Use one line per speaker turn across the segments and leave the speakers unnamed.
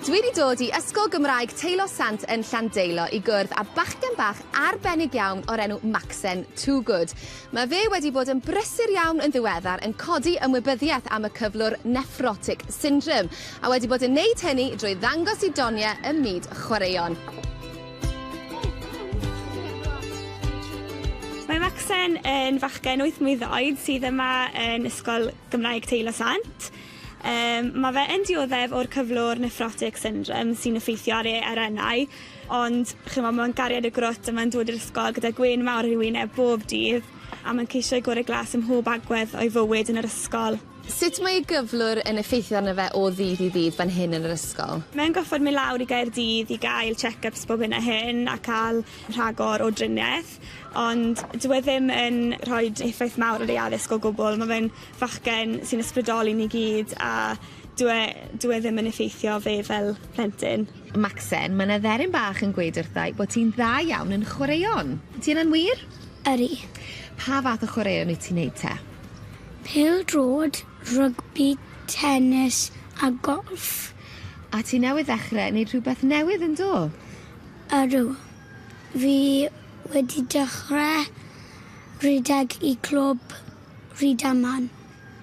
Dwi 'di dod i Ysgol Gymraeg Teilo Sant yn Llandeilo i gwrdd â bachgen bach arbennig iawn o'r enw Macsen Toogood. Mae fe wedi bod yn brysur iawn yn ddiweddar yn codi ymwybyddiaeth am y cyflwr nephrotic syndrome, a wedi bod yn neud hynny drwy ddangos i doniau ym myd chwaraeon. Mae Macsen yn fachgen wyth mlwydd oed sydd yma yn Ysgol Gymraeg Teilo Sant. Um, mae fe yn dioddef o'r cyflwr nephrotic syndrome sy'n effeithio ar ei arennau, ond chi'n meddwl, mae'n gariad y grwt a mae'n dod i'r ysgol gyda gwyn mawr ar ei wyneb bob dydd, a mae'n ceisio ei gorau glas ym mhob agwedd o'i fywyd yn yr ysgol. Sut mae ei gyflwr yn effeithio arno fe o ddydd i ddydd fan hyn yn yr ysgol? Mae'n gorfod mynd lawr i Gaerdydd i gael check-ups bob hyn a hyn a cael rhagor o driniaeth, ond dyw e ddim yn rhoi effaith mawr ar ei addysg o gwbl. Mae fe'n fachgen sy'n ysbrydoli ni gyd a dyw e dyw e ddim yn effeithio fe fel plentyn. Macsen, mae 'na dderyn bach yn gweud wrtha i bod ti'n dda iawn yn chwaraeon. Ydy hynna'n wir? Ydy. Pa fath o chwaraeon wyt ti'n neud te? Pêl-droed, rygbi, tenis a golff. A ti newydd ddechrau wneud rhywbeth newydd yn do? Ydw. Fi wedi dechrau rhedeg i clwb Rhydaman.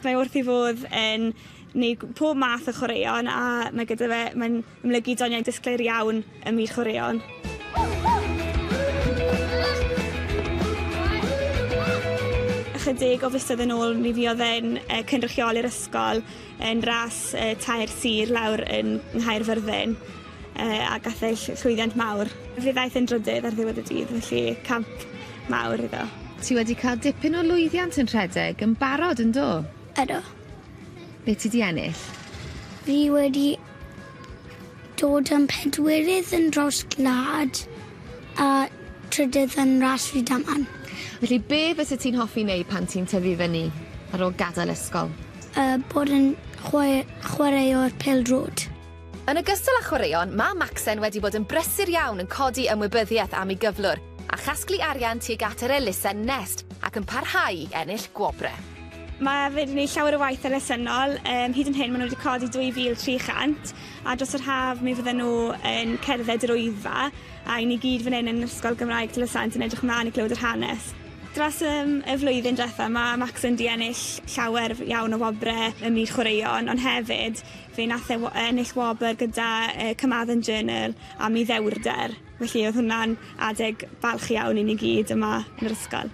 Mae wrth ei fodd yn wneud pob math o chwaraeon a mae gyda fe, mae'n Amlygu doniau disglair iawn ym myd chwaraeon. Ychydig o fisoedd yn ôl mi fuodd e'n e, cynrychioli'r ysgol yn ras e, tair sir lawr yn Nghaerfyrddin e, a gath ei llwyddiant mawr. Fe ddaeth yn drydydd ar ddiwedd y dydd, felly camp mawr iddo. Ti wedi cael dipyn o lwyddiant yn rhedeg yn barod yn do? Ydo. Be ti di ennill? Fi wedi Dod yn pedwerydd yn draws gwlad a trydydd yn ras Rydaman. Felly be fysa ti'n hoffi neud pan ti'n tyfu fyny ar ôl gadael ysgol? Yy bod yn chwae- chwaraewr pêl-droed. Yn ogystal â chwaraeon, mae Macsen wedi bod yn brysur iawn yn codi ymwybyddiaeth am ei gyflwr a chasglu arian tuag at yr elusen Nest ac yn parhau i ennill gwobrau. Mae fe 'di neud llawer o waith elusennol, um, hyd yn hyn maen nhw wedi codi 2,300 a dros yr haf mi fydden nhw yn cerdded yr oedfa a i ni gyd fan hyn yn Ysgol Gymraeg Tylysant yn edrych mlaen i glywed yr hanes. Dros um, y flwyddyn diwetha mae Maxon di ennill llawer iawn o wobre ym myd chwaraeon, ond hefyd fe nath e ennill wobr gyda uh, Cymadden Journal am ei ddewrder. Felly oedd hwnna'n adeg balch iawn i ni gyd yma yn yr ysgol.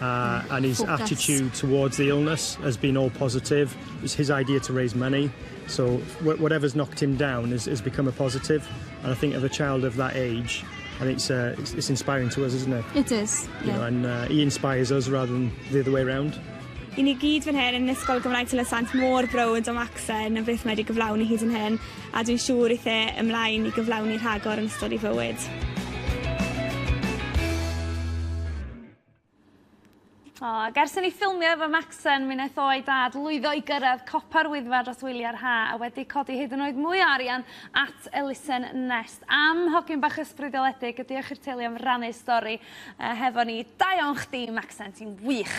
Uh, and his Focus. attitude towards the illness has been all positive. It's his idea to raise money. So wh- whatever's knocked him down has, has become a positive. And I think of a child of that age, I think it's, uh, it's, it's inspiring to us, isn't it? It is. You yeah. know, and uh, he inspires us rather than the other way around. I ni gyd fan hyn yn Ysgol Gymraeg Tylysant mor brod o Maxen a beth mae wedi gyflawni hyd yn hyn, a dwi'n siŵr eithe ymlaen i gyflawni rhagor yn ystod ei fywyd. O, ac ers i ni ffilmio efo Macsen, mi wnaeth o a'i dad lwyddo i gyrraedd copa'r Wyddfa dros wyliau'r ha, a wedi codi hyd yn oed mwy o arian at elusen Nest. Am hogyn bach ysbrydoledig, a diolch i'r teulu am rannu stori uh, hefo ni. Da iawn chdi, Macsen, ti'n wych!